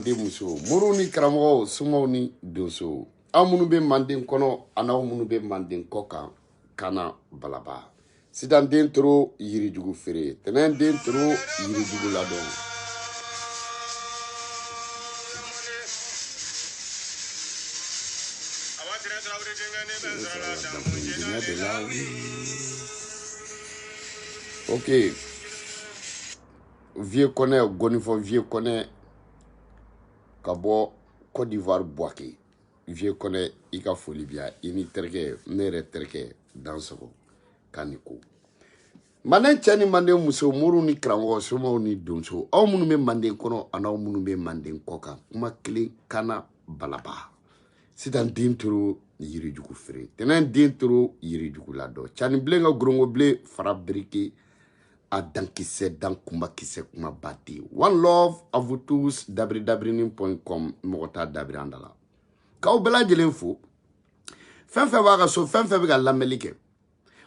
den muso moriw ni karamɔgɔw somaw ni donsow aw minnu bɛ manden kɔnɔ an'aw minnu bɛ manden kɔkan kana balaba sitan den toro yirijugu feere tɛnɛn den toro yirijugu ladɔn ok vieux kɔnɛ ngɔnifɔ vieux kɔnɛ ka bɔ cote d'ivoire buwake vieux kɔnɛ i ka foli bɛ yan i ni terikɛ ne yɛrɛ terikɛ dansogo k'a ni ko manden cɛ ni manden muso moriw ni karamɔgɔ somaw ni donso aw minnu bɛ manden kɔnɔ an'aw minnu bɛ manden kɔkan kuma kelen kana balaba sitan den toro yirijugu feere tɛnɛn den toro yirijugu ladɔn canibilen ka gorongobilen fara birike a dankisɛ dan kumakisɛ kuma ba tɛ one love à vous tous dabiri dabirinin point com mɔgɔ t'a dabiri an da la k'aw bɛɛ lajɛlen fo fɛn fɛn b'a ka so fɛn fɛn bɛ ka lamɛnli kɛ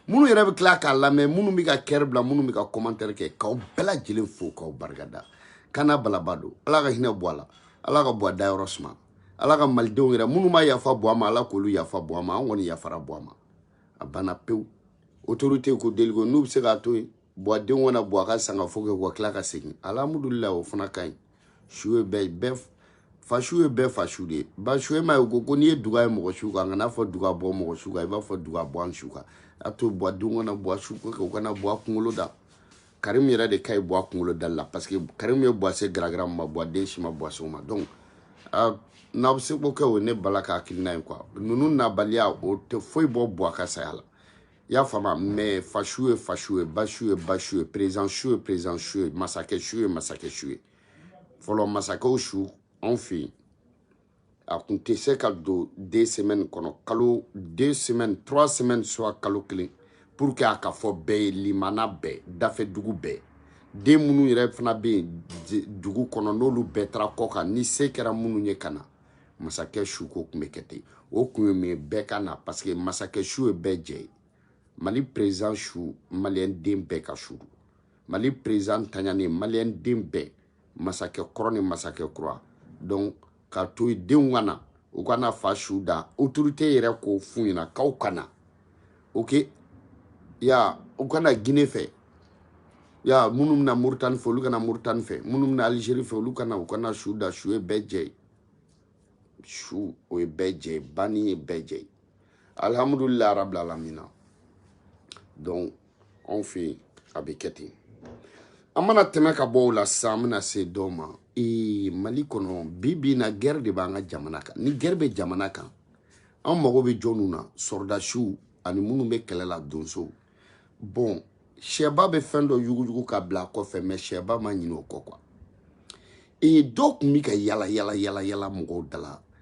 minnu yɛrɛ bɛ tila k'a lamɛn minnu bɛ ka kɛri bila minnu bɛ ka kɔmantɛri kɛ k'aw bɛɛ lajɛlen fo k'aw barikada kana balaba don ala ka hinɛ buwa la ala ka buwa dayɔrɔ suma ala ka malidenw yɛrɛ minnu ma yafa buwa ma ala k'olu yafa buwa ma an kɔni yafara buwa ma a banna pewu autorité ko deliko n'u bɛ se k'a to yen buwa denw ka na buwa ka sangafo kɛ u ka tila ka segin alhamudulila o fana ka ɲi su ye bɛɛ bɛɛ fa su ye bɛɛ fa su de ye ba su e ma ye u ko ko n'i ye duga ye mɔgɔ su kan kana fɔ duga bɔ mɔgɔ su kan i b'a fɔ duga bɔ an su kan a to buwa denw ka na buwa suko kɛ u ka na buwa kunkolo da karimu yɛrɛ de ka ɲi buwa kunkolo dali la parce que karimu ye buwa se garagara ma buwa den si ma buwa se o ma donc n'aw bɛ se k'o kɛ o ne bala ka hakilina ye quoi ninnu nabaliya o tɛ foyi bɔ buwa ka saya la i y'a faamu mais fa su ye fa su ye ba su ye ba su ye président su ye président su ye masakɛ su ye masakɛ su ye fɔlɔ masakɛw su anw fɛ yen a tun tɛ se ka don deux semaines kɔnɔ kalo deux semaines trois semaines soit kalo kelen pour que a ka fɔ bɛɛ ye limana bɛɛ dafɛ dugu bɛɛ den minnu yɛrɛ fana bɛ yen dugu kɔnɔ n'olu bɛɛ taara kɔkan ni se kɛra minnu ye ka na masakɛ su ko tun bɛ kɛ ten o kun ye mun ye bɛɛ ka na parce que masakɛ su ye bɛɛ jɛ ye mali président su maliyɛn den bɛɛ ka su don mali président taɲanen maliyɛn den bɛɛ masakɛ kɔrɔ ni masakɛ kura donc k'a to yen denw ka na u ka na fa su da autorité yɛrɛ k'o f'u ɲɛna k'aw ka na ok ya u ka na gine fɛ ya minnu bɛna moritani fɛ olu ka na moritani fɛ minnu bɛna algérie fɛ olu ka na u ka na su da su ye bɛɛ jɛ ye su o ye bɛɛ jɛ ye banni ye bɛɛ jɛ ye alhamdulilayi arabilalamina donc anw fɛ yen a bɛ kɛ ten an mana tɛmɛ ka bɔ o la sisan an bɛna se dɔw ma ee mali kɔnɔ bi bi in na gɛrɛ de b'an ka jamana kan ni gɛrɛ bɛ jamana kan an mago bɛ jɔnw na sɔrɔdasiw ani minnu bɛ kɛlɛ la donsow bɔn sɛba bɛ fɛn dɔ yuguyugu ka bila a kɔfɛ mɛ sɛba ma ɲinɛ o kɔ kuwa ee dɔw tun bɛ ka yala yala yala yala mɔgɔw dala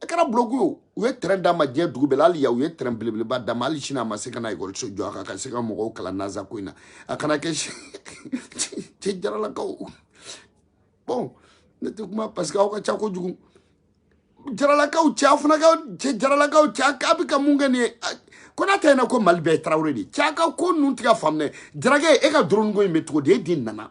a kɛra buloku ye u ye tɛrɛn d'a ma diɲɛ dugu bɛɛ la hali yan u ye tɛrɛn belebeleba d'a ma hali sini a ma se ka na ekɔliso jɔ a ka se ka mɔgɔw kalan naza ko in na a kana kɛ cɛ jaralakaw bɔn ne tɛ kuma parce que aw ka ca kojugu jaralakaw cɛ aw fana ka cɛ jaralakaw cɛ a bɛ ka mun kɛ nin ye konatɛ ɲɛna ko mali bɛɛ ye tarawele de ye cɛ a ka ko ninnu tɛ ka faamu dɛ jarakɛ e ka doroninko in bɛ cogo di e de nana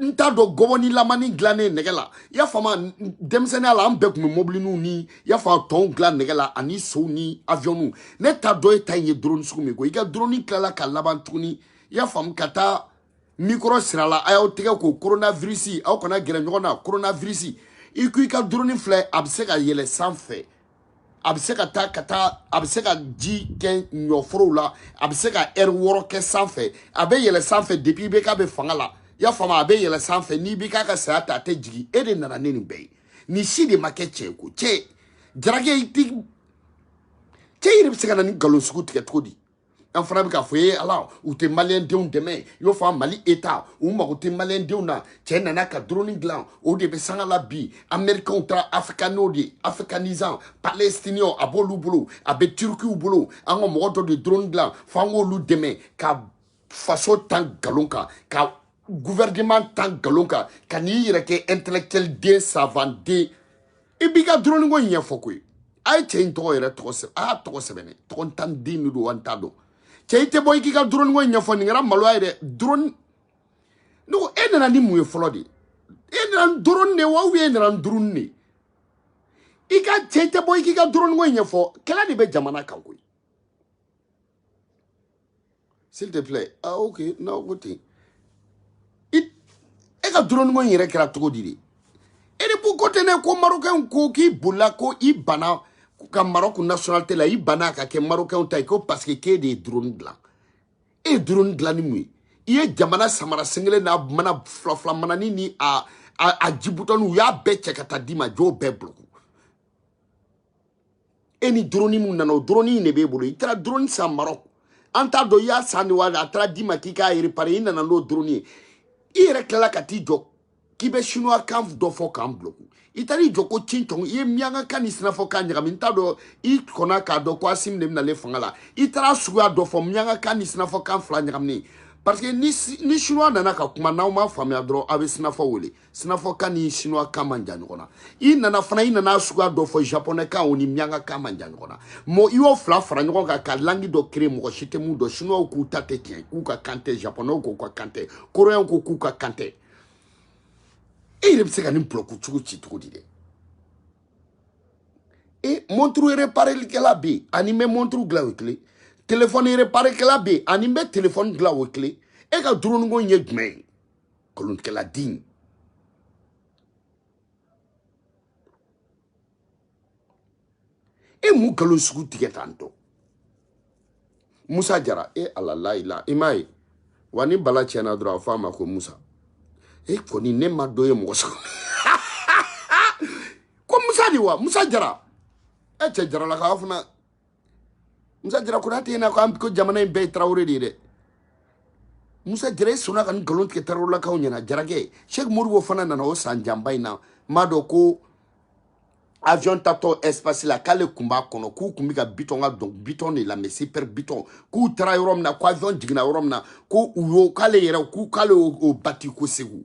n t'a dɔn gɔbɔni lamani dilannen nɛgɛ la i y'a faamu denmisɛnninya la an bɛɛ tun bɛ mɔbiliniw ni i y'a faamu tɔnw dilan nɛgɛ la ani sow ni aviyɔnniw ne t'a dɔn e ta in ye doroni sugu min ko i ka doroni tilala ka laban tuguni i y'a faamu ka taa mikɔrɔ siri a la a y'aw tɛgɛ ko koronavirisi aw kana gɛrɛ ɲɔgɔn na koronavirisi i ko i ka doroni filɛ a bɛ se ka yɛlɛ sanfɛ a bɛ se ka taa ka taa a bɛ se ka ji kɛ ɲɔforow la a bɛ se ka ɛri wɔɔrɔ kɛ sanfɛ a bɛ yɛlɛ sanfɛ depi ibeka bɛ fanga la i y'a faamu a bɛ yɛlɛ sanfɛ ni ibeka ka saya tɛ a tɛ jigin e de nana ni nin bɛɛ ye nin si de ma kɛ cɛ ko cɛ jarakɛ i ti cɛ yɛrɛ bɛ se ka na nin nkalon sugu tigɛ cogo di an fana bɛ k'a fɔ ye ala u tɛ maliyɛndenw dɛmɛ i y'o faamu mali eta u mago tɛ maliyɛndenw na cɛ nana ka doroni dilan o de bɛ sanga la bi amerikɛnw taara afrikaniw de afrikanizan palestiniw a b'olu bolo a bɛ tirikiw bolo an ka mɔgɔ dɔ de doroni dilan fo an k'olu dɛmɛ ka faso tan nkalon kan ka gouvernement tan nkalon kan ka n'i yɛrɛ kɛ intellectuel den savant den i b'i ka dɔrɔninko ɲɛfɔ koyi a ye cɛ in tɔgɔ yɛrɛ tɔgɔ sɛbɛn a y'a tɔgɔ sɛbɛn ne tɔgɔ n tan den de don wa n t'a dɔn cɛ i tɛ bɔ i k'i ka dɔrɔninko ɲɛfɔ nin kɛra maloya ye dɛ dɔrɔni ne ko e nana ni mun ye fɔlɔ de e nana ni dɔrɔni de wa ubiyɛn e nana ni dɔrɔni de i ka cɛ i tɛ bɔ i k'i ka dɔrɔninko ɲɛfɔ kɛlɛ de bɛ jamana kan koyi s'il te plaît ah ok non ko ten e ka droniko in yɛrɛ kɛra cogo di de e de b'u ko ten dɛ ko marokɛnw ko k'i bolila ko i bana ka marɔku nationalité la i bana ka kɛ marokɛnw ta ye ko parce que k'e de ye drone dilan e ye drone dilan ni mun ye i ye jamana samara sen kelen n'a mana filafila manani ni a a, a jibutɔni u y'a bɛɛ cɛ ka taa d'i ma i y'o bɛɛ buloku e ni drone mun nana o drone in de b'e bolo i taara drone san marɔk an t'a dɔn i y'a san de wa a taara d'i ma k'i k'a repare i nana n'o drone ye i yɛrɛ tilala ka t'i jɔ k'i bɛ chinois kan dɔ fɔ k'an bloku i taara i jɔ ko cin cɔn i ye miyanka kan ni sinafɔ kan ɲagami n t'a dɔn i kɔnna k'a dɔn ko asimi de bɛnalen fanga la i taara suguya dɔ fɔ miyanka kan ni sinafɔ kan fila ɲagaminen parce que ni chinois nana ka kuma n'aw ma faamuya dɔrɔn aw bɛ sinafɔ wele sinafɔkan ni chinois kan man jan ɲɔgɔn na i nana fana i nana suguya dɔ fɔ japonais kan o ni miyanka kan man jan ɲɔgɔn na mɔ i y'o fila fara ɲɔgɔn kan ka langi dɔ créer mɔgɔ si tɛ mun dɔn chinois k'u ta tɛ tiɲɛ k'u ka kan tɛ japonais k'u ka kan tɛ coréen ko k'u ka kan tɛ e yɛrɛ bɛ se ka nin bulɔku cogo ci cogo di dɛ e monturu reparekɛla bɛ yen ani bɛ monturu dilan o ye kelen telefɔni reparekɛla bɛ yen ani bɛ telefɔni dilan o ye kelen e ka drone ko ye jumɛn ye kalontigɛla den e mun nkalon sugu tigɛ tan tɔ musa jara e ala layila i m'a ye wa ni bala tiɲɛna dɔrɔn a fɔ a ma ko musa e kɔni ne ma dɔ ye mɔgɔ sɔrɔ ko musa de wa musa jara e cɛ jaralakaw fana musa jara konate ye na ko an ko jamana in bɛɛ ye tarawele de ye dɛ musa jara i sɔnna ka nin nkalon tigɛ tarawelelakaw ɲɛna jarakɛ sheikh modibo fana nana o san janba in na m'a dɔn ko avion tatɔ espace la k'ale kun b'a kɔnɔ k'u kun bɛ ka bitɔn ka dɔn bitɔn de lamɛn super bitɔn k'u taara yɔrɔ min na ko avion jiginna yɔrɔ min na ko u y'o k'ale yɛrɛ k'u k'ale y'o bati ko segu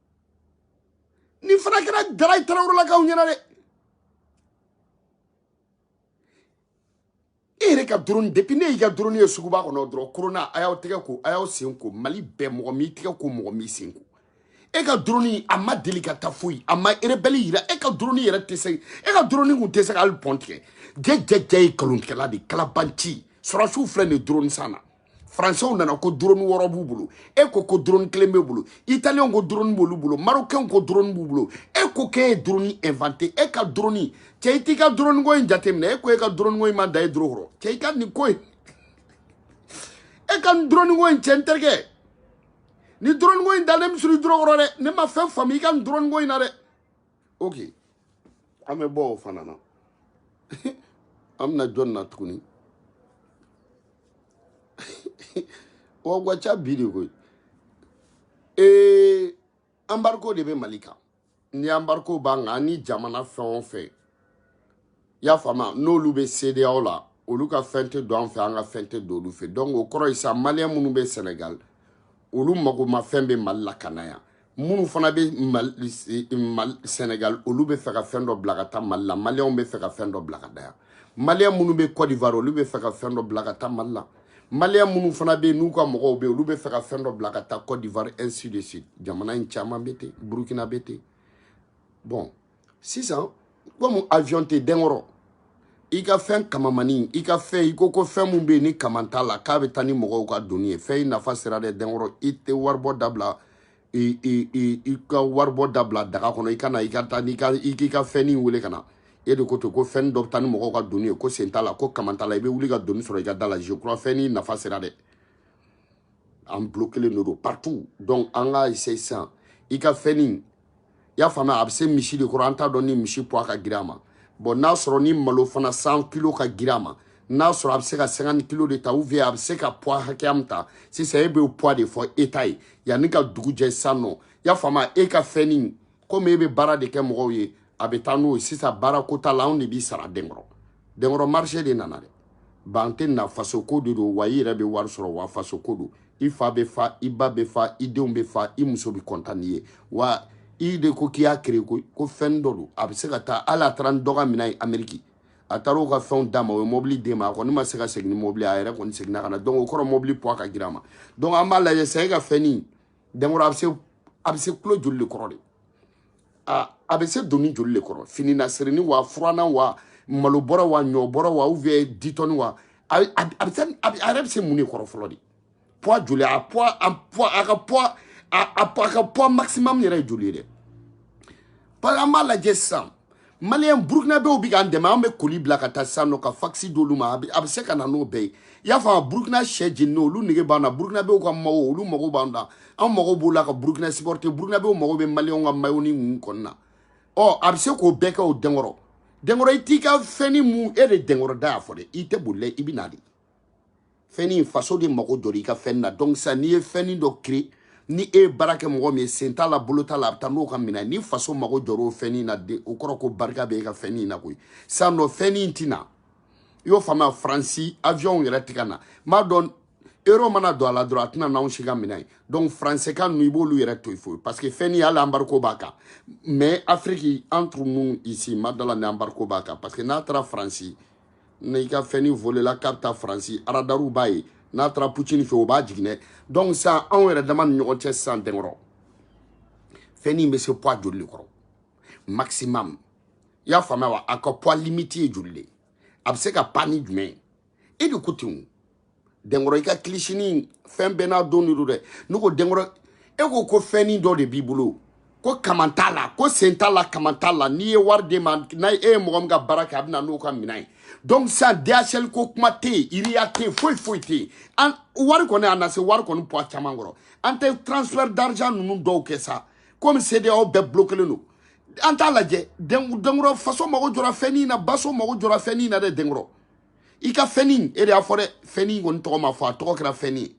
nin fana kɛra dara ye tarawelelakaw ɲɛna dɛ e yɛrɛ ka doroni depuis ne y'i ka doroni ye suguba kɔnɔ dɔrɔn korona a y'aw tɛgɛ ko a y'aw sen ko mali bɛɛ mɔgɔ m'i tɛgɛ ko mɔgɔ m'i sen ko e ka doroni a ma deli ka taa foyi a ma erebɛli yira e ka doroni yɛrɛ tɛ se e ka doroni kun tɛ se ka hali pɔn tigɛ jɛjɛjɛ ye kalontigɛla de kalabanci sɔrɔdasiw filɛ nin doroni san na faransɛw nana ko drone wɔɔrɔ b'u bolo e ko ko drone kelen b'e bolo italiyɛnw ko drone b'olu bolo marokɛnw ko drone b'u bolo e ko k'e ye drone invente e ka drone cɛ i t'i ka drone ko in jateminɛ e ko e ka drone ko in ma da e doro kɔrɔ cɛ i ka nin ko in e ka nin drone ko in cɛ n terikɛ ni drone ko in dalen bɛ siri doro kɔrɔ dɛ ne ma fɛn faamu i ka nin drone ko in na dɛ ok an bɛ bɔ o fana na an bɛna jɔn na tuguni wa a ka ca bi de koyi ee embargo de bɛ mali kan ni embargo b'an kan an ni jamana fɛn o fɛn i y'a faamuya n'olu bɛ CEDEAO la olu ka fɛn tɛ don an fɛ an ka fɛn tɛ don olu fɛ donc o kɔrɔ ye sa maliyɛn minnu bɛ senegal olu magomafɛn bɛ mali la ka na yan minnu fana bɛ mali senegal olu bɛ fɛ ka fɛn dɔ bila ka taa mali la maliyɛnw bɛ fɛ ka fɛn dɔ bila ka na yan maliyɛn minnu bɛ cote d'ivoire olu bɛ fɛ ka fɛn dɔ bila ka taa mali la maliyɛn minnu fana bɛ yen n'u ka mɔgɔw bɛ yen olu bɛ fɛ ka fɛn dɔ bila ka taa cote d'ivoire ainsi de suite jamana in caman bɛ ten burukina bɛ ten bon sisan komi avion tɛ denkɔrɔ i ka fɛn kamamani i ka fɛn i ko ko fɛn min bɛ yen ni kaman t'a la k'a bɛ taa ni mɔgɔw ka doni ye fɛn in nafa sera dɛ denkɔrɔ i tɛ waribɔ dabila i i i i ka waribɔ dabila daga kɔnɔ i ka na i ka taa n'i ka i k'i ka fɛnnin wele ka na e de ko to ko fɛn dɔ bɛ taa ni mɔgɔw ka doni ye ko sen t'a la ko kaman t'a la i bɛ wuli ka doni sɔrɔ i ka da la je crois fɛn nin nafa sera dɛ an bloquelen de don partout donc an ka essayer sisan i ka fɛnnin i y'a faamuya a bɛ se misi de kɔrɔ an t'a dɔn ni misi poids ka girin a ma bɔn n'a sɔrɔ ni malo fana cent kilo ka girin a ma n'a sɔrɔ a bɛ se ka cinquante kilo de ta ou bien a bɛ se ka poids hakɛya min ta sisan e bɛ poids de fɔ état ye yanni ka dugu jɛ sisan nɔ i y'a faamuya e ka fɛnnin komi e bɛ baara de kɛ mɔgɔw ye a bɛ taa n'o ye sisan baara ko t'a la anw de b'i sara denkɔrɔ denkɔrɔ marché de nana dɛ ban tɛ na fasoko de don wa i yɛrɛ bɛ wari sɔrɔ wa fasoko don i fa bɛ fa i ba bɛ fa i denw bɛ fa i muso bɛ kɔntan n'i ye wa i de ko k'i y'a créer ko ko fɛn dɔ don a bɛ se ka taa hali a taara ni dɔ ka minɛn ye ameriki a taara o ka fɛnw d'a ma o ye mɔbili d'e ma a kɔni ma se ka segin ni mɔbili a yɛrɛ kɔni seginna ka na donc o kɔrɔ mɔbili poids ka girin a ma donc an b'a lajɛ sa e ka fɛnnin denkɔrɔ a bɛ se a bɛ se kilo joli de kɔrɔ de a a bɛ se doni joli de kɔrɔ fini na sirini wa furanan wa malo bɔrɔ wa ɲɔ bɔrɔ wa ou bien dix tonnes wa a bɛ a bɛ a bɛ se a bɛ a yɛrɛ bɛ se mun de kɔrɔ fɔlɔ de poids joli a poids a poids a ka poids a a poids a ka poids maximum yɛrɛ ye joli ye dɛ parce que an b'a lajɛ sisan maliyɛn burukinabew bɛ k'an dɛmɛ an bɛ colis bila ka taa sisan nɔ ka fakisi d'olu ma a bɛ se ka na n'o bɛɛ ye i y'a faamu burukina sɛ jeninen olu nege b'an na burukinabew ka mayo olu mago b'an na an mago b'o la ka burukina supporter burukinabew mago bɛ maliyɛnw ka mayo ni ninnu kɔni na ɔ a bɛ se k'o bɛɛ kɛ o denkɔrɔ denkɔrɔ i t'i ka fɛnnin mun e de denkɔrɔ da y'a fɔ dɛ i tɛ boli i bɛ na de fɛnnin faso de mago jɔra i ka fɛnnin na donc sisan n'i ye fɛnnin dɔ créer ni e ye baara kɛ mɔgɔ min ye sen t'a la bolo t'a la a bɛ taa n'o ka minɛn ni faso mago jɔra o fɛnnin na de o kɔrɔ ko barika bɛ e ka fɛnnin na koyi sisan nɔ fɛnnin tɛ na i y'o faamuya faransi avion yɛrɛ tɛ ka na n b'a dɔn euro mana don a la dɔrɔn a tɛ na n'anw si ka minɛn ye donc faransɛkan ninnu i b'olu yɛrɛ to yen foyi parce que fɛnnin hali embargo b'a kan mais afiriki entre nous ici n ma da a la ni embargo b'a kan parce que n'a taara faransi na i ka fɛnni volela k'a bɛ taa faransi aradariw b'a ye n'a taara poutine fɛ o b'a jigin dɛ donc sisan anw yɛrɛ dama ni ɲɔgɔn cɛ sisan dɛnkɔrɔ fɛnni in bɛ se poids joli de kɔrɔ maximum i y'a faamuya wa a ka poids limite ye joli de ye a bɛ se ka pan ni jumɛn ye e de ko ten o dɛnkɔrɔ i ka kilisinin fɛn bɛɛ n'a don de don dɛ ne ko dɛnkɔrɔ e ko ko fɛnnin dɔ de b'i bolo ko kaman t'a la ko sen t'a la kaman t'a la n'i ye wari d'e ma n'a e ye mɔgɔ min ka baara kɛ a bɛ na n'o ka minɛn ye donc sisan dhl ko kuma tɛ yen ria tɛ yen foyi foyi tɛ yen an wari kɔni a na se wari kɔni poids caman kɔrɔ an tɛ transfert d'argent ninnu dɔw kɛ sa komi CEDEAO bɛɛ bloquelen don an t'a lajɛ dɛnkɔrɔ faso mago jɔra fɛnnin na faso mago jɔra fɛnnin na dɛ dɛnkɔrɔ i ka fɛnni e de y'a fɔ dɛ fɛnni kɔni tɔgɔ ma fɔ a tɔgɔ kɛra fɛnni ye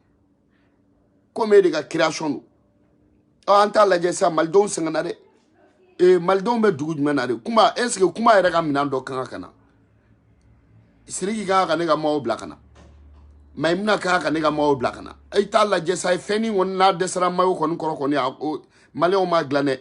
komi e de ka création don ɔ an t'a lajɛ sisan malidenw sɛgɛnna dɛ ee malidenw bɛ dugu jumɛn na de kuma est ce que kuma yɛrɛ ka minɛn dɔ kan ka na siriki kan ka ne ka maaw bila ka na mayimuna kan ka ne ka maaw bila ka na i t'a lajɛ sa ye fɛnni kɔni n'a dɛsɛra mayo kɔni kɔrɔ kɔni a maliyɛnw m'a dilan dɛ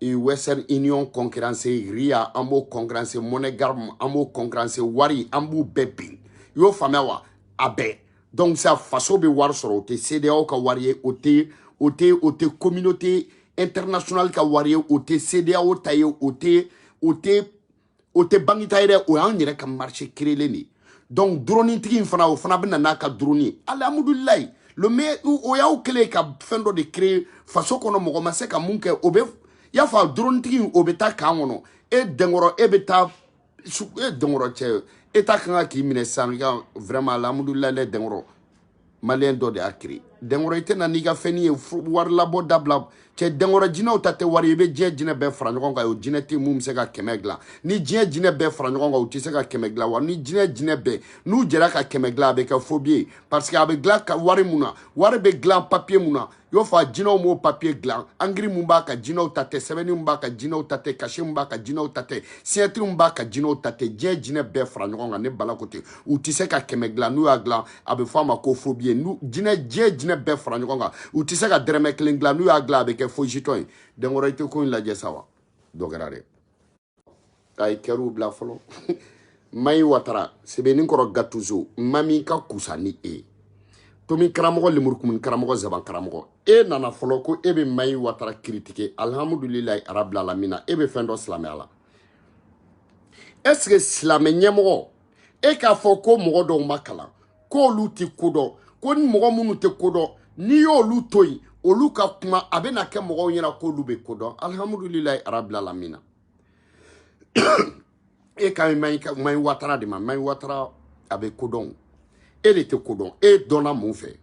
e western union concurrence ria an b'o concurrence moneygram an b'o concurrence wari an b'u bɛɛ bin i y'o faamuya wa a bɛɛ donc sa faso bɛ wari sɔrɔ o tɛ CEDEAO ka wari ye o tɛ o tɛ o tɛ communauté internationale ka wari ye o tɛ CEDEAO ta ye o tɛ o tɛ o tɛ banki ta ye dɛ o y'an yɛrɛ ka marché créelen de ye donc duronitigi in fana o fana bɛ na n'a ka duroni ye alihamudulilayi le me o y'aw kɛlen ka fɛn dɔ de créer faso kɔnɔ mɔgɔ ma se ka mun kɛ o bɛ y'a fɔ a duronitigi in o bɛ taa kan kɔnɔ e dɛnkɔrɔ e bɛ taa e dɛnkɔrɔ cɛ e ta kan ka k'i minɛ sisan i ka vraiment alihamudulilayi dɛ dɛnkɔrɔ maliyɛn dɔ de y'a créer dɛnkɔrɔ i tɛna n'i ka fɛnni ye wari labɔ dabila cɛ dɛnkɔrɔ jinɛw ta tɛ wari i bɛ diɲɛ jinɛ bɛɛ fara ɲɔgɔn kan o jinɛ tɛ mun bɛ se ka kɛmɛ dilan ni diɲɛ jinɛ bɛɛ fara ɲɔgɔn kan u tɛ se ka kɛmɛ dilan wa ni jinɛ jinɛ bɛɛ n'u jɛra ka kɛmɛ dilan a bɛ kɛ faux billet parce que a bɛ dilan wari mun na wari bɛ dilan papiye mun na i b'a fɔ a jinɛw m'o papiye dilan ankiri mun b'a kan jinɛw ta tɛ sɛbɛnni mun b'a kan jinɛw ta tɛ cachet mun b'a kan jinɛw ta tɛ signature mun b'a kan jinɛw ta tɛ diɲɛ jinɛ bɛɛ fara ɲɔgɔn kan ne bala ko ten u tɛ se ka kɛmɛ dilan n'u y'a dilan a bɛ fɔ a ma ko faux billet n'u jinɛ diɲɛ jinɛ bɛɛ fara ɲɔgɔn kan u tɛ se ka dɛrɛmɛ kelen dilan n'u y'a dilan a bɛ kɛ faux jeton ye dɛnkɔrɔ i tɛ ko in lajɛ sa wa dɔ kɛra dɛ a ye kɛriw bila fɔlɔ mayi watara sebeninkɔrɔ gatuzo maa min ka kusa ni e ye tomi karamɔgɔ lemurukumuni karamɔgɔ zaban karamɔgɔ e nana fɔlɔ ko e bɛ mayi watara kiritike alihamudulilayi arabilalamina e bɛ fɛn dɔn silamɛya la est ce que silamɛ ɲɛmɔgɔ e k'a fɔ ko mɔgɔ dɔw ma kalan k'olu tɛ ko dɔn ko ni mɔgɔ minnu tɛ ko dɔn n'i y'olu to yen olu ka kuma a bɛna kɛ mɔgɔw ɲɛna k'olu bɛ ko dɔn alihamudulilayi arabili alamina e kan mayi watara de ma mayi watara a bɛ ko dɔn e le tɛ ko dɔn e dɔnna mun fɛ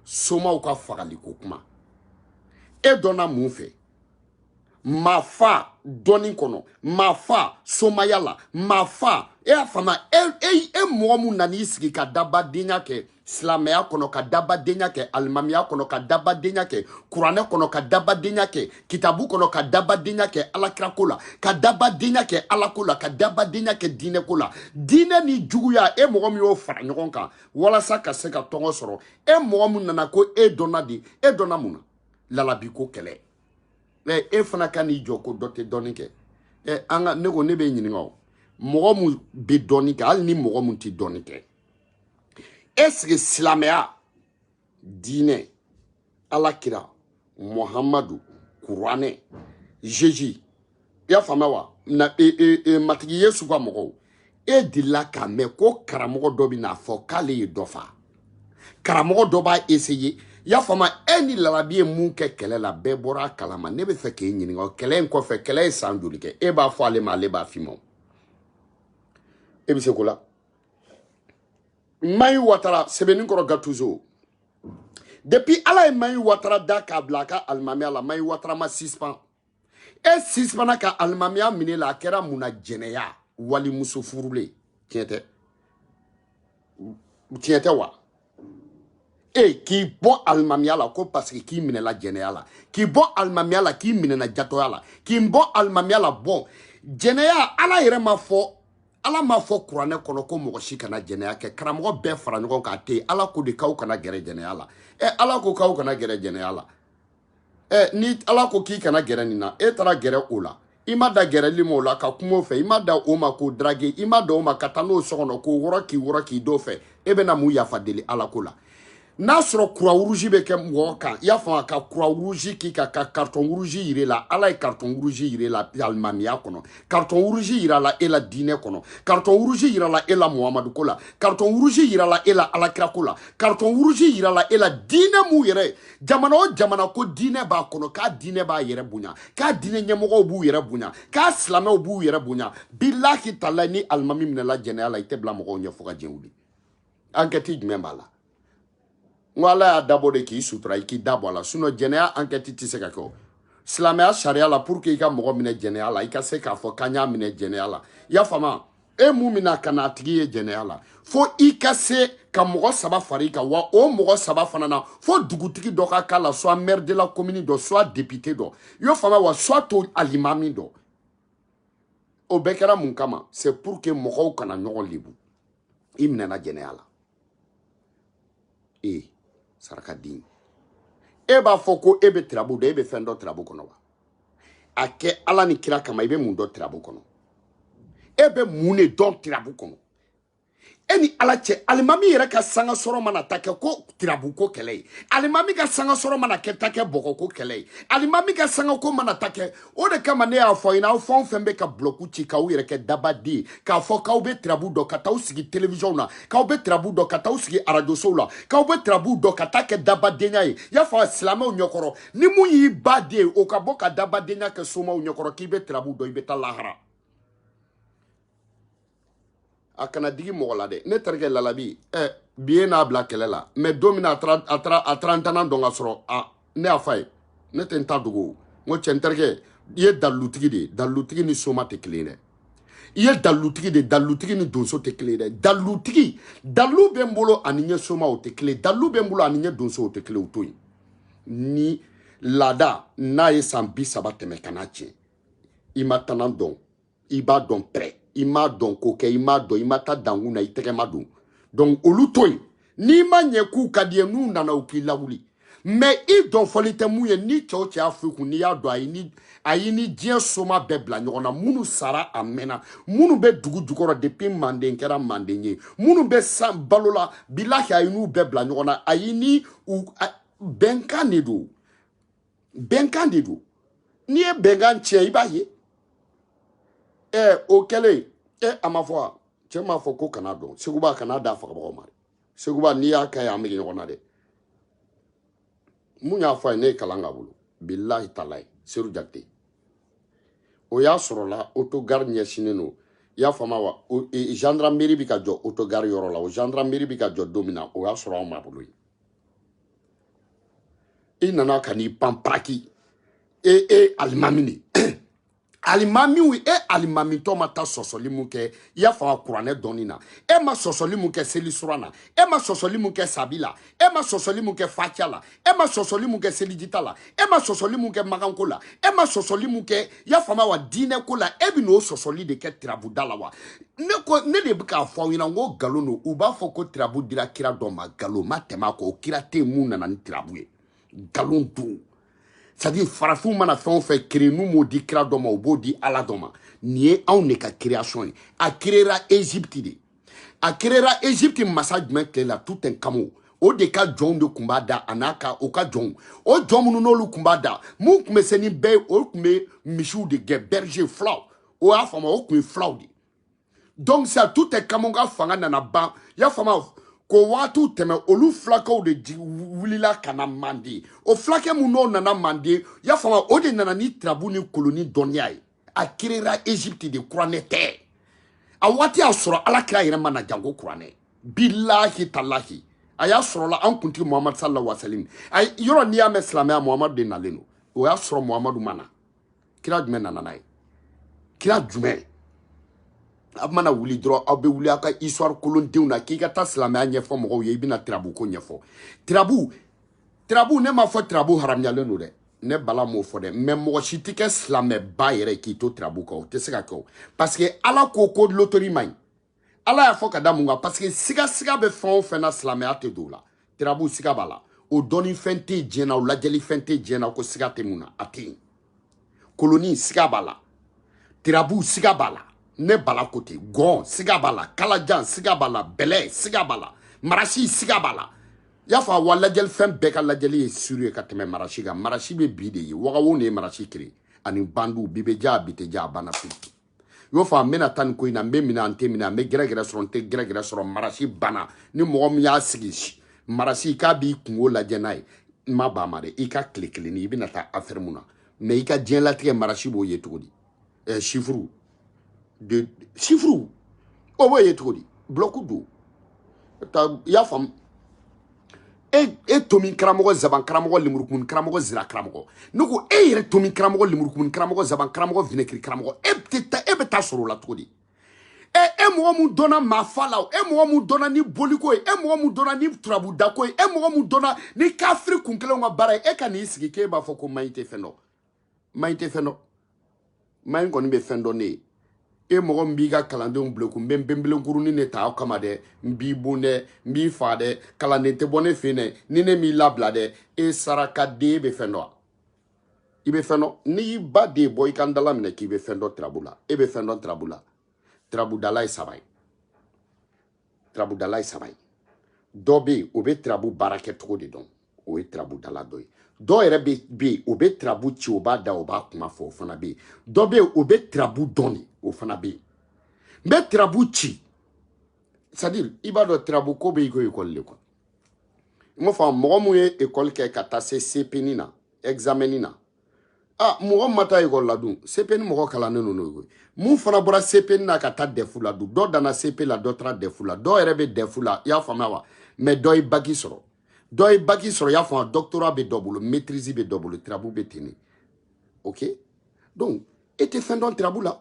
somaw ka fagali ko kuma e dɔnna mun fɛ Mafa dɔnni kɔnɔ Mafa somaya la Mafa e y'a faamu e e e mɔgɔ mun nana i sigi ka dabadenya kɛ silamɛya kɔnɔ ka dabadenya kɛ alimamiya kɔnɔ ka dabadenya kɛ kuranɛ kɔnɔ ka dabadenya kɛ kitabu kɔnɔ ka dabadenya kɛ alakirako la ka dabadenya kɛ alako la ka dabadenya kɛ diinɛko la diinɛ ni juguya e mɔgɔ min y'o fara ɲɔgɔn kan walasa ka se ka tɔgɔ sɔrɔ e mɔgɔ min nana ko e dɔnna di e dɔnna mun na lalabi ko kɛlɛ ɛ e fana ka n'i jɔ ko dɔ tɛ dɔnni kɛ ɛ an ka ne ko ne b'e ɲininka o mɔgɔ min bɛ dɔnni kɛ hali ni mɔgɔ min tɛ dɔnni kɛ est-ce que silamɛya diinɛ alakira muhamadu kuranɛ jeji i y'a faamuya wa na e, e, e, matigi yesu ka mɔgɔw e delila k'a mɛn ko karamɔgɔ dɔ bɛ n'a fɔ k'ale ye dɔ fa karamɔgɔ dɔ b'a essayer i y'a faamu e ni lalabi ye mun kɛ kɛlɛ la bɛɛ bɔra a kalama ne bɛ fɛ k'e ɲininka o kɛlɛ in kɔfɛ kɛlɛ ye san joli kɛ e b'a fɔ ale ma ale b'a f'i ma e bɛ se ko la mayi watara sɛbɛninkɔrɔ gatuzo depuis ala ye mayi watara da k'a bila a ka alimamiya la mayi watara ma sispan e sispana ka alimamiya min'e la a kɛra mun na jɛnɛya walimuso furulen tiɲɛ tɛ tiɲɛ tɛ wa e k'i bɔ alimamiya la ko parce que k'i minɛla jɛnɛya la k'i bɔ alimamiya la k'i minɛna jatɔya la k'i bɔ alimamiya la bon jɛnɛya ala yɛrɛ m'a fɔ ala m'a fɔ kuranɛ kɔnɔ ko mɔgɔ si kana jɛnɛya kɛ karamɔgɔ bɛɛ fara ɲɔgɔn kan te ala ko de k'aw kana gɛrɛ jɛnɛya la ɛ ala ko k'aw kana gɛrɛ jɛnɛya la ɛ ni ala ko k'i kana gɛrɛ nin na e taara gɛrɛ o la i ma dan gɛrɛli ma o la ka kuma o fɛ i ma dan o ma k'o drague i ma dan o ma ka taa n'o so kɔnɔ k'o wɔrɔ k'i wɔrɔ k'i d'o fɛ e bɛna mun yafa deli ala ko la n'a sɔrɔ croix rouge bɛ kɛ mɔgɔ kan i y'a faamu ka croix rouge k'i ka ka carton rouge yir'e la ala ye carton rouge yir'e la alimamiya kɔnɔ carton rouge yirala e la diinɛ kɔnɔ carton rouge yirala e la muhamadu ko la carton rouge yirala e la alakira ko la carton rouge yirala e la diinɛ mun yɛrɛ jamana o jamana ko diinɛ b'a kɔnɔ k'a diinɛ b'a yɛrɛ bonya k'a diinɛ ɲɛmɔgɔw b'u yɛrɛ bonya k'a silamɛw b'u yɛrɛ bonya bilahi talahi ni alimami minɛla jɛnɛya la i tɛ bila mɔgɔw ɲɛ fo ka diɲɛ wuli enquête jumɛn b'a la n ko ala y'a dabɔ de k'i sutura i k'i da bɔ a la sinon jɛnɛya enquête tɛ se ka kɛ o silamɛya sariya la pour que i ka mɔgɔ minɛ jɛnɛya la i ka se k'a fɔ k'an y'a minɛ jɛnɛya la i y'a faamu e mun mina ka na a tigi ye jɛnɛya la fo i ka se ka mɔgɔ saba fara i kan wa o mɔgɔ saba fana na fo dugutigi dɔ ka k'a la soit maire de la commune dɔ soit député dɔ i y'o faamu wa soit o alimami dɔ o bɛɛ kɛra mun kama c'est pour que mɔgɔw kana ɲɔgɔn lebu i minɛna jɛnɛya la e saraka den e b'a fɔ ko e bɛ tirabu dɔn e bɛ fɛn dɔn tirabu kɔnɔ wa a kɛ ala ni kira kama i bɛ mun dɔn tirabu kɔnɔ e bɛ mun de dɔn tirabu kɔnɔ e ni ala cɛ alimami yɛrɛ ka sanga sɔrɔ mana taa kɛ ko tirabu ko kɛlɛ ye alimami ka sanga sɔrɔ mana kɛ taa kɛ bɔgɔ ko kɛlɛ ye alimami ka sanga ko mana taa kɛ o de kama ne y'a fɔ i ɲɛna aw fɛn o fɛn bɛ ka bulɔku ci k'aw yɛrɛ kɛ dabaden ye k'a fɔ k'aw bɛ tirabu dɔn ka t'aw sigi telewisɔnw na k'aw bɛ tirabu dɔn ka t'aw sigi arajosow la k'aw bɛ tirabu dɔn ka taa kɛ dabadenya ye y'a fɔ silamɛw ɲɛkɔrɔ ni min y'i ba den ye o ka bɔ ka dabadenya kɛ somaw ɲɛkɔrɔ k'i bɛ tirabu dɔn i bɛ taa lahara a kana digi mɔgɔ la dɛ ne terikɛ lalabi ɛ eh, bi ye n'a bila kɛlɛ la mais don min na a taara ntana dɔn ka sɔrɔ ne y'a fa ye ne tɛ n ta dogo n ko cɛ n terikɛ i ye dalilutigi de ye dalilutigi ni soma tɛ kelen ye dɛ i ye dalilutigi de ye dalilutigi ni donso tɛ kelen ye dɛ dalilutigi dalilu bɛ n bolo ani n ye soma o tɛ kelen dalilu bɛ n bolo ani n ye donso o tɛ kelen o to yen ni laada n'a ye san bi saba tɛmɛ ka n'a tiɲɛ i m'a tana dɔn i b'a dɔn pɛrɛ i m'a dɔn ko kɛ i m'a dɔn i ma taa dankun na i tɛgɛ ma don donc olu to yen n'i ma ɲɛ k'u ka di i ye n'u nana u k'i lawuli mais i dɔn fɔli tɛ mun ye ni cɛw cɛ y'a fo kun n'i y'a dɔn a ye ni a ye ni diɲɛ soma bɛɛ bila ɲɔgɔn na minnu sara a mɛnna minnu bɛ dugu jukɔrɔ depuis manden kɛra manden ye minnu bɛ san balo la bilahi a ye n'u bɛɛ bila ɲɔgɔn na a ye ni u bɛnkan de don bɛnkan de don n'i ye bɛnkan tiɲɛ i b'a ye ɛ o kɛlen ɛ a ma fɔ wa cɛ m'a fɔ ko kana dɔn seguba kana da fagabagaw ma dɛ seguba n'i y'a ka ye an bɛ ɲɔgɔn na dɛ min y'a fɔ a ye ne ye kalan k'a bolo bilahi talayi seru jakite o y'a sɔrɔla autogare ɲɛsinnen don i y'a faamu wa e, gendarmerie bɛ ka jɔ autogare yɔrɔ la o gendarmerie bɛ ka jɔ don min na o y'a sɔrɔ anw ma bolo yen i nana ka n'i pan paraki e e alimami de alimamiw e alimamitɔ ma taa sɔsɔli mun kɛ i y'a fɔ a kuranɛ dɔɔni na e ma sɔsɔli mun kɛ seli sura na e ma sɔsɔli mun kɛ sabi la e ma sɔsɔli mun kɛ fakiya la e ma sɔsɔli mun kɛ selijita la e ma sɔsɔli mun kɛ maganko la e ma sɔsɔli mun kɛ i y'a faamu wa diinɛ ko la e bɛn'o sɔsɔli de kɛ tirabuda la wa ne ko ne de bɛ k'a fɔ aw ɲɛna n ko nkalon don u b'a fɔ ko tirabu dira kira dɔ ma nkalon ma tɛmɛ a kɔ o kira tɛ yen min nana ni tirabu ye nkalon don c'est-à-dire farafinw mana fɛn o fɛn créer n'u m'o di kira dɔ ma u b'o di ala dɔ ma nin ye anw de ka création ye a créera egypte de a créera Égypte masa jumɛn tile la Toutankhamon o de ka jɔnw de tun b'a da a n'a ka o ka jɔnw o jɔn minnu n'olu tun b'a da mun tun bɛ se ni bɛɛ ye o tun bɛ misiw de gɛn berger fulaw o y'a faamu o tun ye fulaw de donc sisan Toutankhamon ka fanga nana ban i y'a faamu k'o waatiw tɛmɛ olu fulakɛw de wulila ka na manden o fulakɛ minnu n'o nana manden i y'a faamu o de nana ni tirabu ni koloni dɔnniya ye a créera Égypte de kuranɛ tɛ a waati y'a sɔrɔ ala kira yɛrɛ ma na janko kuranɛ bilahi talahi a y'a sɔrɔla an kuntigi muhamadu salala wasalim a yɔrɔ n'i y'a mɛn silamɛya muhamadu de nalen don o y'a sɔrɔ muhamadu ma na kira jumɛn nana n'a ye kira jumɛn aw mana wuli dɔrɔn aw bɛ wuli aw ka histoire kolondenw na k'i ka taa silamɛya ɲɛfɔ mɔgɔw ye i bɛna tirabu ko ɲɛfɔ tirabu tirabu ne m'a fɔ tirabu haramuyalen don dɛ ne bala m'o fɔ dɛ mais mɔgɔ si tɛ kɛ silamɛba yɛrɛ k'i to tirabu kan o tɛ se ka kɛ o parce que ala ko ko lotori man ɲi ala y'a fɔ ka da mun kan parce que sigasiga bɛ fɛn o fɛn na silamɛya tɛ don o la tirabu siga b'a la o dɔnnifɛn tɛ diɲɛ na o lajɛlifɛn tɛ diɲɛ na ko siga tɛ mun na a tɛ yen koloni siga b'a la tirabu siga b'a la ne bala kote gɔn siga b'a la kalajan siga b'a la bɛlɛ siga b'a la marasi siga b'a la y'a fɔ a wa lajɛli fɛn bɛɛ ka lajɛli ye sûr ye ka tɛmɛ marasi kan marasi bɛ bi de ye wagawo de ye marasi kiri ani bandu bi bɛ diya bi tɛ diya a banna pewu i b'a fɔ n bɛna taa nin ko in na n bɛ minɛ n tɛ minɛ n bɛ gɛrɛgɛrɛ sɔrɔ n tɛ gɛrɛgɛrɛ sɔrɔ marasi banna ni mɔgɔ min y'a sigi marasi k'a b'i kunko lajɛ n'a ye n ma ban ma dɛ i ka tile kelen ni i bɛna taa afɛri mun na mais i ka diɲɛlatigɛ marasi b'o ye cogo di ɛɛ sifuru de sifuru o b'o ye cogo di bulɔku don i y'a faamu e e tomin karamɔgɔ zaban karamɔgɔ lemurukumun karamɔgɔ zira karamɔgɔ ne ko e yɛrɛ tomin karamɔgɔ lemurukumun karamɔgɔ zaban karamɔgɔ vinɛkiri karamɔgɔ e tɛ taa e b'e ta sɔrɔ o la cogo di e e mɔgɔ mun dɔnna maafa la o e mɔgɔ mun dɔnna ni boliko ye e mɔgɔ mun dɔnna ni turabudako ye e mɔgɔ mun dɔnna ni kafiri kun kelenw ka baara ye e ka n'i sigi k'e b'a fɔ ko maɲi tɛ fɛn dɔn maɲi tɛ fɛn dɔn maɲi kɔni bɛ fɛn dɔn ne ye e mɔgɔ min b'i ka kalandenw bulekun n bɛ n benbelenkurunin de ta aw kama dɛ n b'i bon dɛ n b'i fa dɛ kalanden tɛ bɔ ne fɛ dɛ ni ne m'i labila dɛ e sarakaden bɛ fɛn dɔn wa i bɛ fɛn dɔn n'i y'i ba den bɔ i ka n da laminɛ k'i bɛ fɛn dɔn tirabu la e bɛ fɛn dɔn tirabu la tirabudala ye saba ye turabudala ye saba ye dɔ bɛ yen o bɛ turabu baara kɛcogo de dɔn o ye turabudala dɔ ye dɔ yɛrɛ bɛ bɛ yen o bɛ turabu ci o b'a da o b'a kuma fɔ o fana bɛ yen dɔ bɛ yen o bɛ turabu dɔn de o fana bɛ yen n bɛ turabu ci c'est à dire i b'a dɔn turabu ko bɛ i ko ekɔli de quoi i m'a faamu mɔgɔ mun ye ekɔli kɛ ka taa se cp nin na examen nin na ah mɔgɔ ma taa ekɔli la dun sepe ni mɔgɔ kalannen don n'o ye mun fana bɔra sepe na ka taa dɛfu la dun dɔ danna sepe la dɔ taara dɛfu la dɔw yɛrɛ bɛ dɛfu la i y'a faamuya wa mɛ dɔ ye baki sɔrɔ dɔ ye baki sɔrɔ i y'a faamuya dɔktora bɛ dɔ bolo maîtrise bɛ dɔ bolo tirabu bɛ ten de ok donc e tɛ fɛn dɔn tirabu la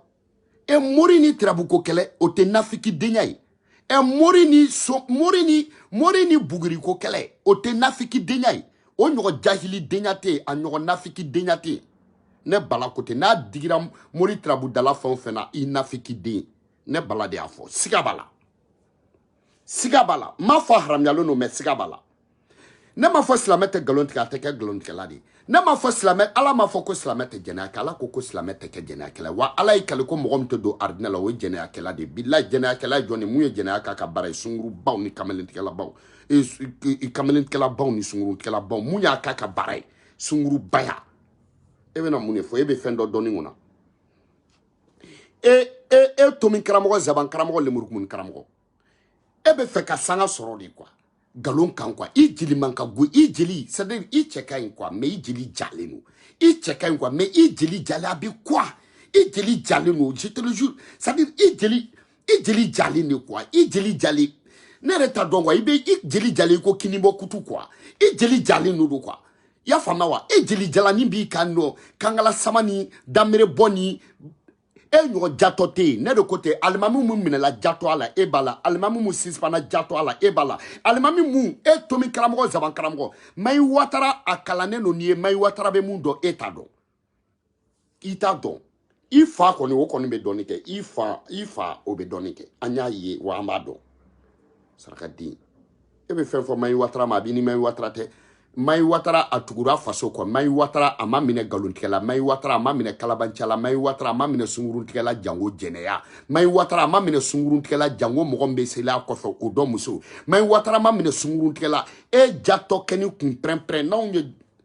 ɛ mori ni tirabuko kɛlɛ o tɛ nafikidenya ye ɛ mori ni so mori ni mori ni buguriko kɛlɛ o tɛ nafikidenya ye o ɲɔgɔn jahilidenya tɛ yen a ɲɔgɔn nafikidenya tɛ yen ne bala ko tɛ n'a digira mori tirabudala fɛn o fɛn na i nafikiden ne bala de y'a fɔ siga b'a la siga b'a la n m'a fɔ haramuyalen don mɛ siga b'a la ne m'a fɔ silamɛ tɛ nkalon tigɛ a tɛ kɛ nkalontigɛla de ye ne m'a fɔ silamɛ ala m'a fɔ ko silamɛ tɛ jɛnɛya kɛ ala ko ko silamɛ tɛ kɛ jɛnɛyakɛla ye wa ala y'i kali ko mɔgɔ min tɛ don arijinɛ la o ye jɛnɛyakɛla de ye bilayi jɛnɛyakɛla ye jɔn de ye mun ye jɛnɛya k'a ka baara ye sungurubaw ni kamalentigɛlabaw e, e, e, kamalentigɛlabaw ni sungurutigɛlabaw mun y'a k'a ka baara ye sungurubaya e bɛna mun de fɔ e bɛ fɛn dɔn dɔnniko na e e e tomi karamɔgɔ zaban karamɔgɔ lemurukumun karamɔgɔ e bɛ fɛ ka sanga sɔrɔ de kuwa nkalon kan kuwa i jeli man ka go i jeli sadiri i cɛ ka ɲi kuwa mɛ i jeli jalen don i cɛ ka ɲi kuwa mɛ i jeli jalen a bɛ kuwa i jeli jalen don je te le jure sadiri i jeli i jeli jalen de kuwa i jeli jalen ne yɛrɛ t'a dɔn kuwa i bɛ i jeli jalen i ko kinibɔ kutu kuwa i jeli jalen don don kuwa i y'a faamuya wa e jeli jalani b'i kan nɔ kankala sama ni danbere bɔ ni e ɲɔgɔn jatɔ tɛ yen ne de ko tɛ alimami mun minɛla jatɔya la e b'a la alimami mun sisipana jatɔya la e b'a la alimami mun e tomi karamɔgɔ zaban karamɔgɔ mayi watara a kalannen don n'i ye mayi watara bɛ mun dɔn e t'a dɔn i t'a dɔn i fa kɔni o kɔni bɛ dɔnni kɛ i fa i fa o bɛ dɔnni kɛ an y'a ye wa an b'a dɔn saraka den e bɛ fɛn fɔ mayi watara ma a b'i ni mayi watara tɛ mayi watara a tugura faso kɔ mayi watara a ma minɛ nkalontigɛla mayi watara a ma minɛ kalabancala mayi watara a ma minɛ sunguruntigɛla jango jɛnɛya mayi watara a ma minɛ sunguruntigɛla jango mɔgɔ min bɛ seli a kɔfɛ o dɔ muso mayi watara ma minɛ sunguruntigɛla e jatɔkɛnin kun pɛrɛnpɛrɛn n'anw ye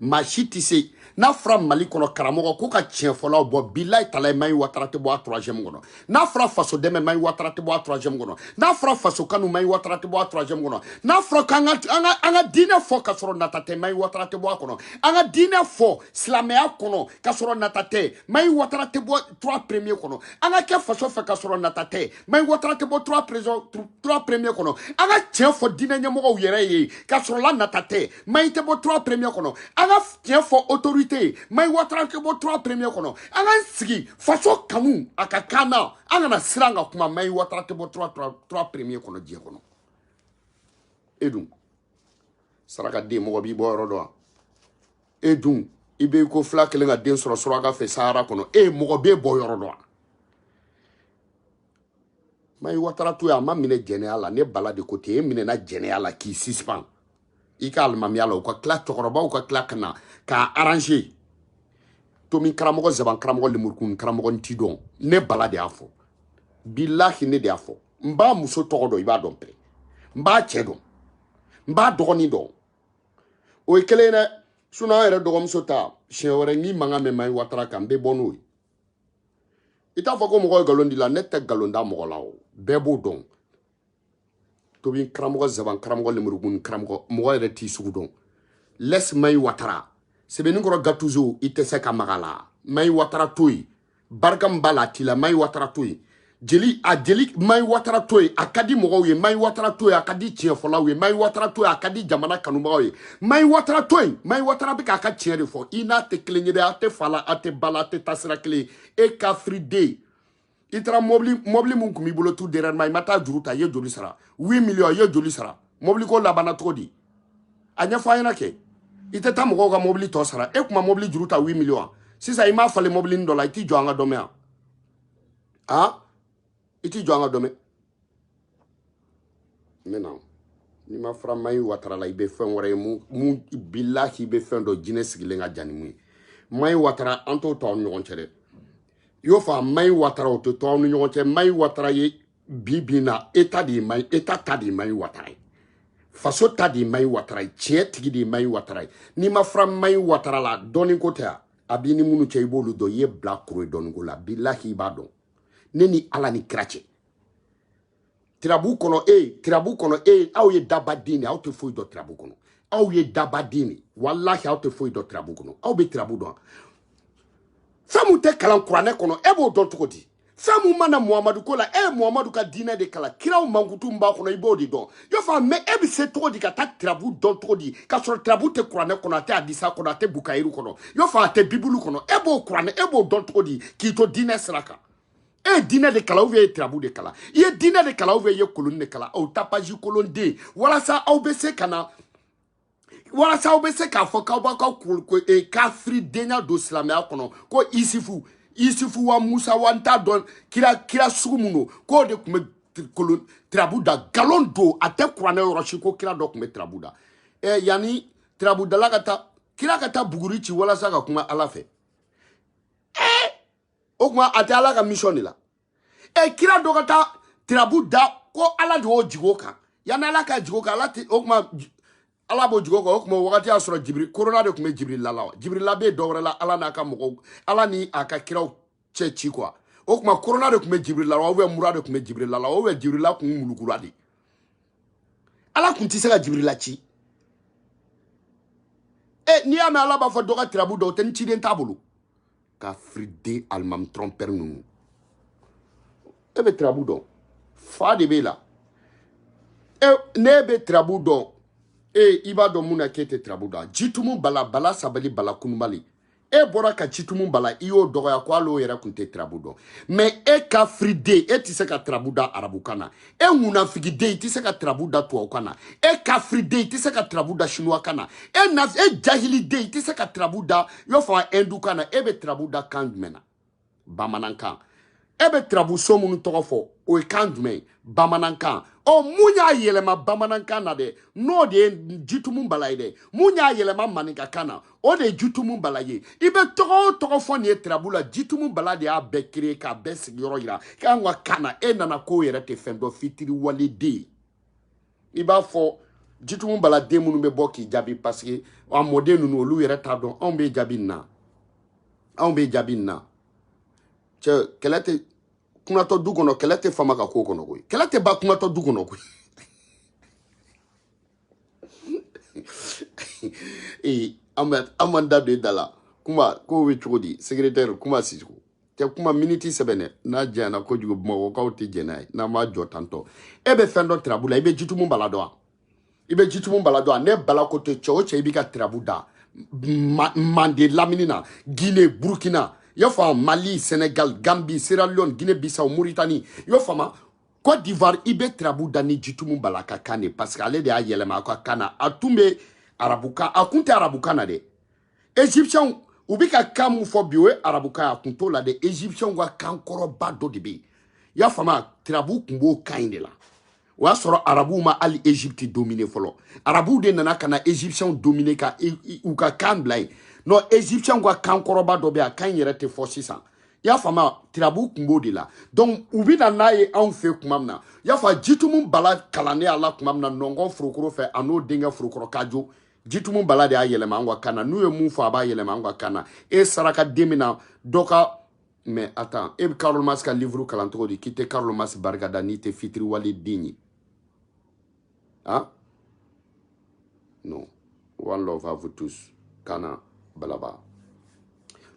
maa si tɛ se n'a fɔra mali kɔnɔ karamɔgɔ ko ka tiɲɛfɔlaw bɔ bilayi talayi mayi watara tɛ bɔ a troisième kɔnɔ n'a fɔra faso dɛmɛ mayi watara tɛ bɔ a troisième kɔnɔ n'a fɔra faso kanu mayi watara tɛ bɔ a troisième kɔnɔ n'a fɔra k'an ka an ka an ka diinɛ fɔ ka sɔrɔ nata tɛ mayi watara tɛ bɔ a kɔnɔ an ka diinɛ fɔ silamɛya kɔnɔ ka sɔrɔ nata tɛ mayi watara tɛ bɔ trois premier kɔnɔ an ka kɛ faso fɛ ka sɔrɔ nata tɛ mayi watara tɛ bɔ trois président trois premier kɔnɔ an ka tiɲɛ fɔ diinɛ ɲɛmɔgɔw yɛrɛ ye ka sɔrɔ nata tɛ mayi tɛ bɔ trois premier kɔnɔ an ka tiɲɛ fɔ autorité ye mayi watara tɛ bɔ trois premier kɔnɔ an ka sigi faso kanu a ka kan na an kana siran ka kuma mayi watara tɛ bɔ trois trois premier kɔnɔ diɲɛ kɔnɔ e dun saraka den mɔgɔ b'i bɔ yɔrɔ dɔn wa e dun i bɛ ko fila kelen ka den sɔrɔ suraka fɛ sahara kɔnɔ e mɔgɔ b'e bɔ yɔrɔ dɔn wa mayi watara to yen a ma minɛ jɛnɛya la ne bala de ko ten e minɛna jɛnɛya la k'i suspend i ka alimamiya la u ka tila cɛkɔrɔbaw ka tila ka na k'a arrange tomi karamɔgɔ zaban karamɔgɔ lemurukun karamɔgɔ n t'i dɔn ne bala de y'a fɔ bilahi ne de y'a fɔ n b'a muso tɔgɔ dɔn i b'a dɔn pere n b'a cɛ dɔn n b'a dɔgɔnin dɔn o ye kelen ye dɛ sinɔn an yɛrɛ dɔgɔmuso ta siɲɛ wɛrɛ n'i mankan mɛn mayi watara kan n bɛ bɔ n'o ye i t'a fɔ ko mɔgɔ ye nkalon d'i la ne tɛ nkalon da mɔgɔ la o bɛɛ b'o dɔn tomi karamɔgɔ zaban karamɔgɔ lemurukun karamɔgɔ mɔgɔ yɛrɛ t'i sugu dɔn laisse mayi watara sɛbɛnni kɔrɔ gatuzo i tɛ se ka maga a la mayi watara to yen barika min b'a la a t'i la mayi watara to yen jeli a jeli mayi watara to yen a ka di mɔgɔw ye mayi watara to yen a ka di tiɲɛfɔlaw ye mayi watara to yen a ka di jamana kanubagaw ye mayi watara to yen mayi watara bɛ k'a ka tiɲɛ de fɔ i n'a tɛ kelen ye dɛ a tɛ fa la a tɛ ba la a tɛ taasira kelen e kafiriden i taara mɔbili min tun b'i bolo tout dernièrement i ma taa juru ta i ye joli sara huit millions i ye joli sara mɔbili ko labanna cogo di a ɲɛfɔ an ɲɛna kɛ i tɛ taa mɔgɔw ka mɔbili tɔ sara e kuma mɔbili juru ta huit millions sisan i m'a falen mɔbilinin dɔ la i t'i jɔ an ka dɔ mɛn yan a i t'i jɔ an ka dɔ mɛn maintenant n'i ma fara mayi watara la i bɛ fɛn wɛrɛ ye mun bilahi i bɛ fɛn dɔ jinɛ sigilen ka jan ni mun ye mayi watara an t'o to aw ni ɲɔgɔn cɛ dɛ i y'o fɔ a mayi watara o tɛ to aw ni ɲɔgɔn cɛ mayi watara ye bi bi in na état de ye mayi état ta de ye mayi watara ye faso ta de ye mayi watara ye tiɲɛ tigi de ye mayi watara ye n'i ma fara mayi watara la dɔnni ko tɛ a a b'i ni minnu cɛ i b'olu dɔn i ye bilakoro ye dɔnni ko la bilahi i b'a dɔn ne ni ala ni kira cɛ tirabu kɔnɔ e ye tirabu kɔnɔ e ye aw ye daba den de aw tɛ foyi dɔn tirabu kɔnɔ aw ye daba den de walahi aw tɛ foyi dɔn tirabu kɔnɔ aw bɛ tirabu dɔn fɛn min tɛ kalan kuranɛ kɔnɔ e b'o dɔn cogo di fɛn min ma na muhamadu ko la e ye muhamadu ka diinɛ de kalan kiraw mankutu min b'a kɔnɔ i b'o de dɔn y'o fɔ mais e bɛ se cogo di ka taa tirabu dɔn cogo di k'a sɔrɔ tirabu tɛ kuranɛ kɔnɔ a tɛ hadisa kɔnɔ a tɛ bukayiru kɔnɔ y'o fɔ a tɛ bibulu kɔnɔ e b'o kuranɛ e b'o dɔn cogo di k'i to diinɛ sira kan e ye diinɛ de kalan ou bien e ye tirabu de kalan i ye diinɛ de kalan ou bien i ye koloni de kalan aw ta paji kolonden walasa aw bɛ se ka na walasa aw bɛ se k'a fɔ k'aw b'a ka e, kafiridenya don silamɛya kɔnɔ ko isifu isifu wa musa wa n t'a dɔn kira kira sugu min don k'o de tun bɛ kolon tirabu da nkalon don a tɛ kuranɛ yɔrɔ si ko kira dɔ tun bɛ tirabu da ɛ e, yanni tirabudala ka taa kira ka taa buguri ci walasa ka kuma ala fɛ ɛ o kuma a tɛ ala ka misɔn de la e kira dɔ ka taa tirabu da ko ala de y'o jigin o kan yanni ala k'a jigin o kan ala tɛ o kuma ala b'o jigin o kan o kuma o wagati y'a sɔrɔ jibiri korona de tun bɛ jibirila la wa jibirila bɛ dɔ wɛrɛ la ala n'a ka mɔgɔw ala ni a ka kiraw cɛ ci kuwa o kuma korona de tun bɛ jibirila la ubiyɛn mura de tun bɛ jibirila la ubiyɛn jibirila kun mulukura de ala kun tɛ se ka jibirila ci e n'i y'a mɛn ala b'a fɔ dɔ ka tirabu da o tɛ ni ciden t'a bolo kafiriden alimami trɔnpɛri ninnu e bɛ tirabu dɔn fa de b'e la e ne bɛ tirabu dɔn e i b'a dɔn mun na k'e tɛ tirabu dɔn jitumu bala bala sabali bala kunubali e bɔra ka jitumu bala i y'o dɔgɔya ko hali o yɛrɛ tun tɛ tirabu dɔn mɛ e kafiriden e tɛ se ka tirabu da arabukan na e ŋunafigiden i tɛ se ka tirabu da tubabukan na e kafiriden i tɛ se ka tirabu da sinuwakan na e na e jahiliden i tɛ se ka tirabu da i b'a fɔ ɛndukan na e bɛ tirabu da kan jumɛn na bamanankan e bɛ tirabu so minnu tɔgɔ fɔ o ye kan jumɛn ye bamanankan ɔ mun y'a yɛlɛma bamanankan na dɛ n'o de ye jitumu bala ye dɛ mun y'a yɛlɛma maninkakan na o de ye jitumu bala ye i bɛ tɔgɔ o tɔgɔ fɔ nin ye tirabu la jitumu bala de y'a bɛɛ kere k'a bɛɛ sigiyɔrɔ yira k'an ka kan na e nana k'o yɛrɛ tɛ fɛn dɔn fitiriwaleden i b'a fɔ jitumu bala den minnu bɛ bɔ k'i jaabi paseke a mɔden ninnu olu yɛrɛ t'a dɔn anw b'e jaabi nin na anw b'e jaabi nin na cɛ kɛlɛ tɛ kunatɔ du kɔnɔ kɛlɛ tɛ faama ka ko kɔnɔ koyi kɛlɛ tɛ ba kunatɔ du kɔnɔ koyi ee an bɛ an m'an da don i da la kuma kow bɛ cogo di sekeretɛri kuma sicogo tɛ kuma miniti sɛbɛn dɛ n'a janyana kojugu bamakɔkaw tɛ jɛn n'a ye n'an m'a jɔ tantɔ e bɛ fɛn dɔn tirabu la i bɛ jitumu bala dɔn wa i bɛ jitumu bala dɔn wa ne bala ko tɛ cɛ o cɛ i b'i ka tirabu da mande lamini na gine burukina i y'a faamu mali senegal gambi sierra leone guinée bissau mauritanie i y'a faamu Côte d'Ivoire i bɛ tirabu da ni jitumu bala ka kan de parce que ale de y'a yɛlɛma a ka kan na a tun bɛ arabukan a kun tɛ arabukan na dɛ egyptiens u bɛ ka kan mun fɔ bi o ye arabukan a kun t'o la dɛ egyptiens ka kan kɔrɔba dɔ de bɛ yen i y'a faamu tirabu kun b'o kan in de la o y'a sɔrɔ arabuw ma hali egypte domine fɔlɔ arabuw de nana ka na egyptiens domine ka u ka kan bila yen non egyptiens ka kan kɔrɔba dɔ bɛ yen a kan in yɛrɛ tɛ fɔ sisan i y'a faamu tirabu kun b'o de la donc u bɛ na n'a ye anw fɛ kuma min na i y'a fɔ jitumu bala kalannen a la kuma min na nɔnkɔn forokɔrɔ fɛ a n'o denkɛ forokɔrɔ kajo jitumu bala de y'a yɛlɛma an ka kan na n'u ye mun fɔ a b'a yɛlɛma an ka kan na e saraka den min na dɔ ka mais attends e bɛ karl marx ka livre kalan cogo di k'i tɛ karl marx barika da n'i tɛ fitiriwale den ye Hein Non. One love à vous tous. Kana, balaba.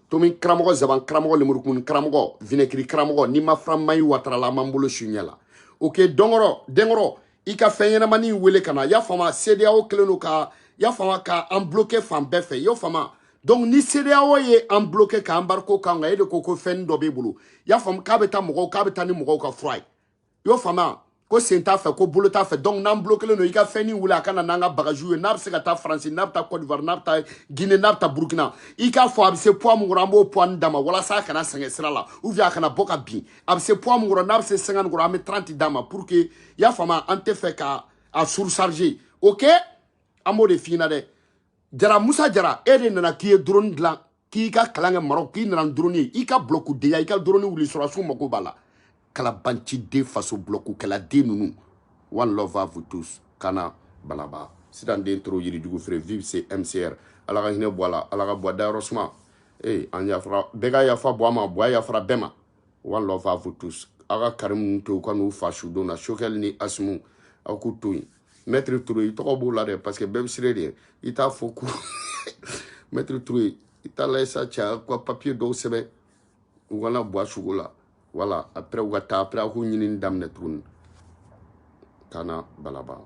Tomi karamɔgɔ zaban karamɔgɔ lemurukumuni karamɔgɔ vinɛkiri karamɔgɔ n'i ma fara maɲi watara la an b'an bolo su ɲɛ la ok dɔnkɔrɔ denkɔrɔ i ka fɛn ɲɛnamani in wele ka na y'a faamu cedeao kɛlen don ka y'a faamu ka an bloke fan bɛɛ fɛ y'o faamu donc ni cedeao ye an bloke ka embargo k'an kan e de ko ko fɛnnin dɔ b'e bolo y'a faamu k'a bɛ taa mɔgɔw k'a bɛ taa ni mɔgɔw ka fura ye i y'o faamu ko sen t'a fɛ ko bolo t'a fɛ donc n'an blokelen don i ka fɛnnin wuli a ka na n'an ka bagajiw ye n'a bɛ se ka taa faransi n'a bɛ taa côte d'ivoire n'a bɛ taa guinée n'a bɛ taa burkina i k'a fɔ a bɛ se poids min kɔrɔ an b'o poids nin d'a ma walasa a kana sɛgɛn sira la ou bien a kana bɔ ka bin a bɛ se poids min kɔrɔ n'a bɛ se 50 kɔrɔ an bɛ 30 d'a ma pour que i y'a faamu an t'a fɛ ka a surcharger ok an b'o de f'i ɲɛna dɛ jara musa jara e de nana k'i ye drone dilan k'i ka kalan kɛ maroc k'i nana drone i ka bulɔku deya i ka drone wuli sɔrɔdasiw mako b'a la kalabanciden faso bulɔkukɛla den ninnu one love à vous tous kana balaba sitan den toro yirijugu feere vive se mcr ala ka hinɛ buwa la ala ka buwa dayɔrɔ suma ee an yafara bɛɛ ka yafa buwa ma buwa yafara bɛɛ ma one love à vous tous aw ka karimu to u ka n'u fa sudon na choguel ni asimi aw k'u to yen maître touré i tɔgɔ b'o la dɛ parce que bɛɛ bɛ siran e de ɲɛ i t'a fɔ ko maître touré ye i t'a lajɛ sa cɛ ka papiye dɔw sɛbɛn u ka na buwa suko la voilà après u ka taa après a k'u ɲinini daminɛ tuguni kana balaba